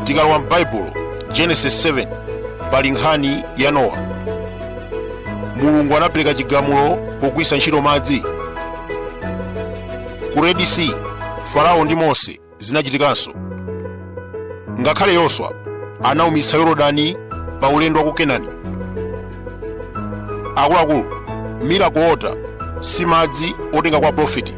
tikalowa m'baibulo genesis 7 pali nkhani ya nowa mulungu anapereka chigamulo pogwiritsa ntchito madzi ku red sea farao ndi mose zinachitikanso ngakhale yoswa anaumitsa yorodani pa ulendo wa ku kenani akuluakulu miracle water si madzi otenga kwa profiti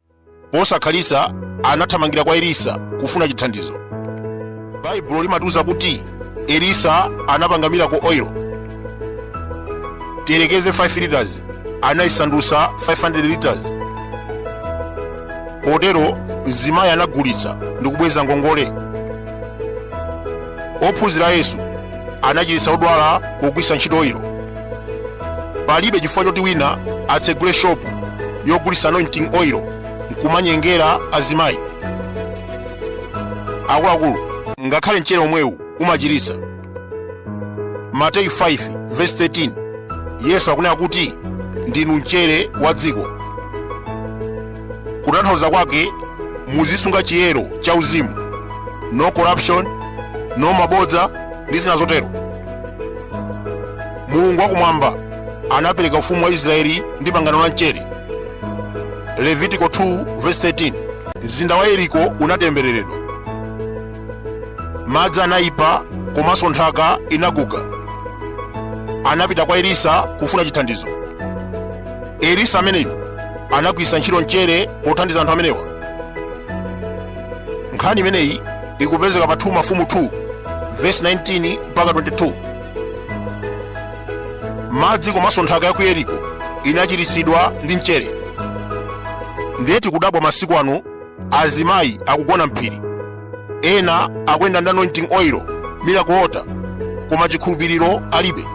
Posakhalitsa anathamangira kwa Elisa kufuna chithandizo. Baibulo limatiuza kuti Elisa anapanga miracle oil tiyerekeze 5 liters anayisandutsa 500 liters. Potero mzimayi anagulitsa ndi kubweza ngongole. Ophunzira a Yesu anachiritsa odwala pogwiritsa ntchito oil. palibe chifukwa choti wina atsegule shopu yogulitsa anointing oil nkumanyengera azimayi akuluakulu ngakhale mchere omwewu umachiritsa mateyu 5 verse 13 yesu akunena kuti ndinu mchere wa dziko kutanthauza kwake muzisunga chiyero cha uzimu no corruption no mabodza ndi zina zotero mulungu wakumwamba anapereka ufumu wa israeli ndi pangano la mchere levitiko 2 verse 13 mzinda wa yeriko unatembereredwa madzi anayipa komanso nthaka inaguga anapita kwa elisa kufuna chithandizo elisa ameneyu anagwiritsa ntchito mchere pothandiza anthu amenewa nkhani imeneyi ikupezeka pa 2 mafumu 2 vesi 19 mpaka 22 madzi komanso nthaka ya ku yeriko inachiritsidwa ndi mchere ndiye tikudabwa masiku ano azimayi akugona m'phiri ena akuyenda ndi anointing oil miracle water koma chikhulupiriro alibe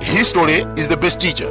history is the best teacher